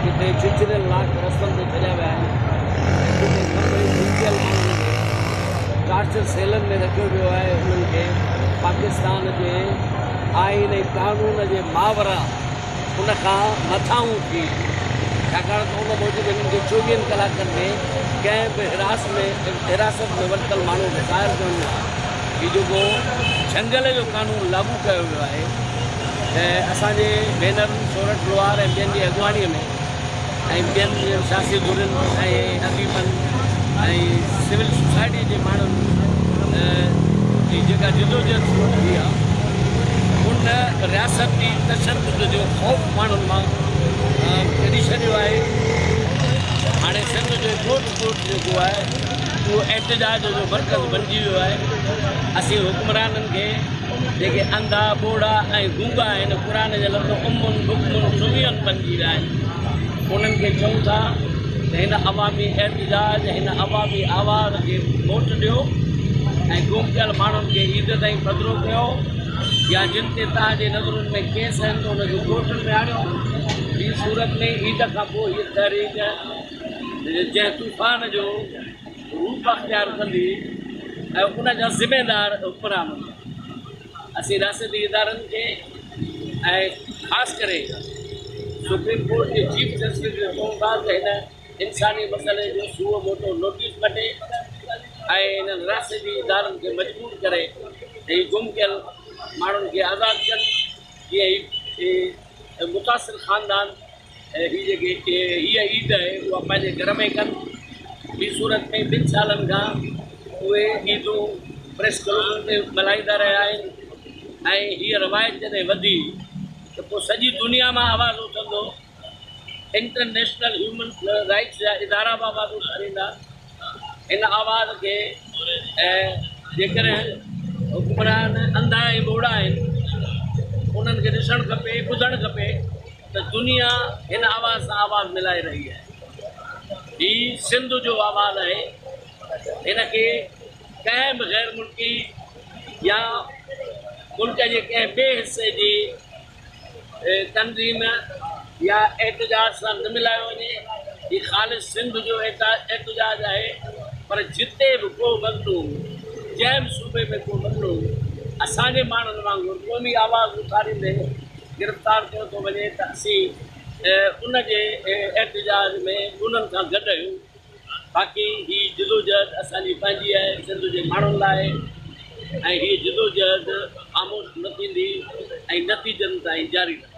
جتي چچريل لاک رستن تي ڇڏيا ويا آهن ۽ جتي ڪمبڙي ڀوڪيل ماڻهن کي ٽارچر سيلن ۾ رکيو ويو آهي انهن کي پاڪستان جي آئين ۽ قانون جي ماورا ان کان مٿانهون ٿي، ڇاڪاڻ ته ان موجب هنن کي چوويهن ڪلاڪن ۾ ڪنهن به حراس ۾ حراست ۾ ورتل ماڻهو کي ظاهر ڪرڻو آهي. هي جيڪو جهنگل جو قانون لاڳو ڪيو ويو آهي ته اسان جي بينرن سورٺ لوهار ۽ ٻين جي اڳواڻي ۾. ۽ ٻين سياسي ڌرين ۽ اديبن ۽ سول سوسائٽي جي ماڻهن جي جيڪا جدوجهد شروع ٿي آ ان رياستي تشدد جو خوف ماڻهن مان ڪڍي ڇڏيو آهي هاڻي سنڌ جو ڳوٺ ڳوٺ جيڪو آهي اهو احتجاج جو مرڪز بنجي ويو آهي اسين حڪمرانن کي جيڪي انڌا، ٻوڙا ۽ گونگا آهن، قرآن جا لفظ عمن، بڪمن، سمين بنجي ويا آهن. انهن کي چئون ٿا ته هن عوامي احتجاج، هن عوامي آواز کي ووٽ ڏيو ۽ گم ٿيل ماڻهن کي عيد تائين پڌرو ڪيو يا جن تي توهان جي نظرن ۾ ڪيس آهن ته انهن کي ڪورٽن ۾ آڻيو. ٻي صورت ۾ عيد کانپوء هيء تحريڪ جنهن طوفان جو. روپ اختيار ڪندي ۽ ان جا ذميوار حڪمران هوندا. اسين رياستي ادارن کي ۽ خاص ڪري سپريم ڪورٽ جي چيف جسٽس کي چئون ٿا ته هن انساني مسئلي جو سوئو موٽو نوٽيس وٺي ۽ انهن رياستي ادارن کي مجبور ڪري ته هي گم ڪيل ماڻهن کي آزاد ڪن جيئن هي متاثر خاندان ۽ هي جيڪي هيء عيد آهي اها پنهنجي گهر ۾ ڪن ٻي صورت ۾ ٻن سالن کان اهي عيدون پريس ڪلوبن تي ملهائيندا رهيا آهن ۽ هيء روايت جڏهن وڌي ته پوء سڄي دنيا مان آواز اٿندو انٽرنيشنل هيومن رائيٽس جا ادارا به آواز اٿاريندا ان آواز کي ۽ جيڪڏهن حڪمران انڌا ۽ ٻوڙا آهن انهن کي ڏسڻ کپي ٻڌڻ کپي ته دنيا هن آواز سان آواز ملائي رهي آهي هي سنڌ جو آواز آهي هن کي ڪنهن به غير ملڪي يا ملڪ جي ڪنهن ٻئي حصي جي تنظيم يا احتجاج سان نه ملايو وڃي، هي خالص سنڌ جو احتجاج آهي، پر جتي به ڪو مظلوم، جنهن به صوبي ۾ ڪو مظلوم اسان جي ماڻهن وانگر قومي آواز اٿاريندي گرفتار ڪيو ٿو وڃي ته اسين ان جي احتجاج ۾ انهن سان گڏ آهيون. باقي هي جدوجهد اسان جي پنهنجي آهي سنڌ جي ماڻهن لاء ۽ هي جدوجهد خاموش نه ٿيندي ۽ نتيجن تائين جاري رهندي.